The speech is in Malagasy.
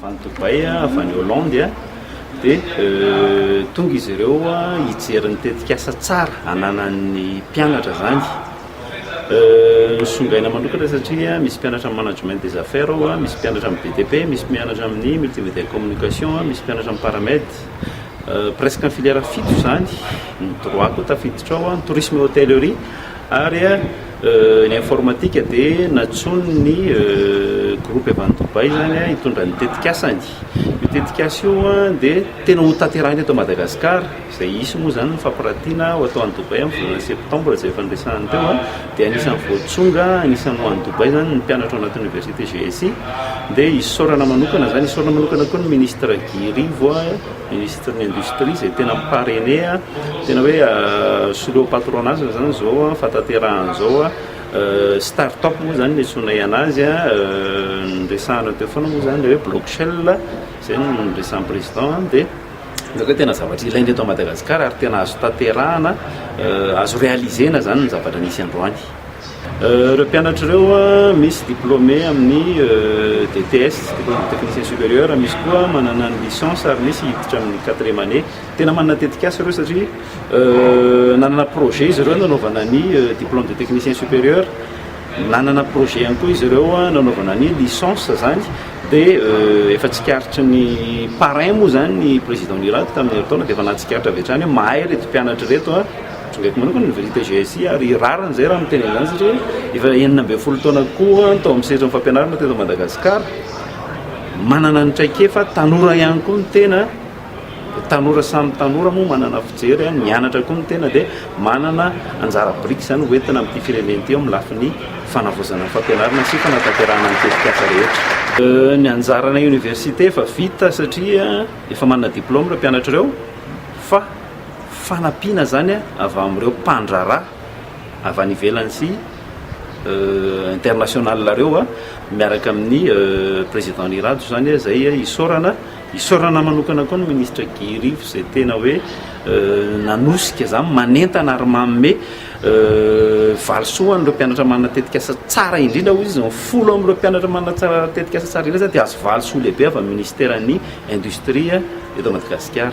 avy any Dubaï, avy any Hollande, dia tonga izy ireo hijery ny tetikasa tsara ananan'ny mpianatra izany. Nisongaina manokana satria misy mpianatra amin'ny management des affaires ao, misy mpianatra amin'ny BTP, misy mpianatra amin'ny multimédia et communication, misy mpianatra amin'ny paramed, presque ny filière fito izany, ny droit koa tafiditra ao, ny tourisme et hôtellerie ary Ny informatika dia nantsoin' ny Groupe avy any Dubaï izany hitondra ny tetikasany. Io tetikasa io dia tena ho tanterahina eto Madagasikara, izay hisy moa izany ny fampiratiana ho atao any Dubaï amin'ny volana septambra izay efa niresahana teo. Dia anisan'ny voatsonga, anisan'ny ho any Dubaï izany ny mpianatra ao anaty oniversite GSI. Dia isaorana manokana izany, isaorana manokana koa ny Ministra Guy Rivo. Ministre ny industrie izay tena mi parrainer tena hoe soloy patronage zany izao fataterahana izao start up moa zany no iantsoanay anazy niresahana teo foana moa zany ilay hoe block shell izay no niresahan'ny président dia hitako hoe tena zavatra ilaina eto Madagascar ary tena azo tanterahana azo realiser-na zany ny zavatra nisy androany. Ireo mpianatra ireo misy diplôme amin'ny DTS, Diplôme de Technicien Supérieur, misy koa manana ny Licence ary misy hiditra amin'ny quatrième année. Tena manana tetikasa ireo satria nanana projet izy ireo nanaovana ny Diplôme de Technicien Supérieur, nanana projet ihany koa izy ireo nanaovana ny Licence izany dia efa tsikaritry ny parrain moa izany ny Président Nirado tamin'ny herintaona dia efa nahatsikaritra avy hatrany hoe mahay ireto mpianatra ireto. Trongeko manokana ny vérité GSI ary rariny izay raha miteny an'izany satria efa enina ambin'ny folo taona koa tao amin'ny sehatry ny fampianarana teto Madagasikara. Manana ny traikefa, tanora ihany koa ny tena, tanora samy tanora moa manana fijery, nianatra koa ny tena dia manana anjara biriky izany ho entina amin'ity firenena ity eo amin'ny lafiny fanavaozana ny fampianarana sy fanatanterahana ny tetikasa rehetra. Ny anjaranay Oniversite efa vita satria efa manana diplaoma ireo mpianatrareo fa. fanampiana izany avy amin'ireo mpandraharaha avy any ivelany sy international ireo miaraka amin'ny président ny rado izany izay isaorana isaorana manokana koa ny ministre Guy Rivo izay tena hoe nanosika izany manentana ary manome Valisoa ho an'ireo mpianatra manana tetikasa tsara indrindra, hoy izy. Ny folo amin'ireo mpianatra manana tsara tetikasa tsara indrindra izany dia azo valisoa lehibe avy amin'ny minisiteran'ny indostria eto Madagasikara.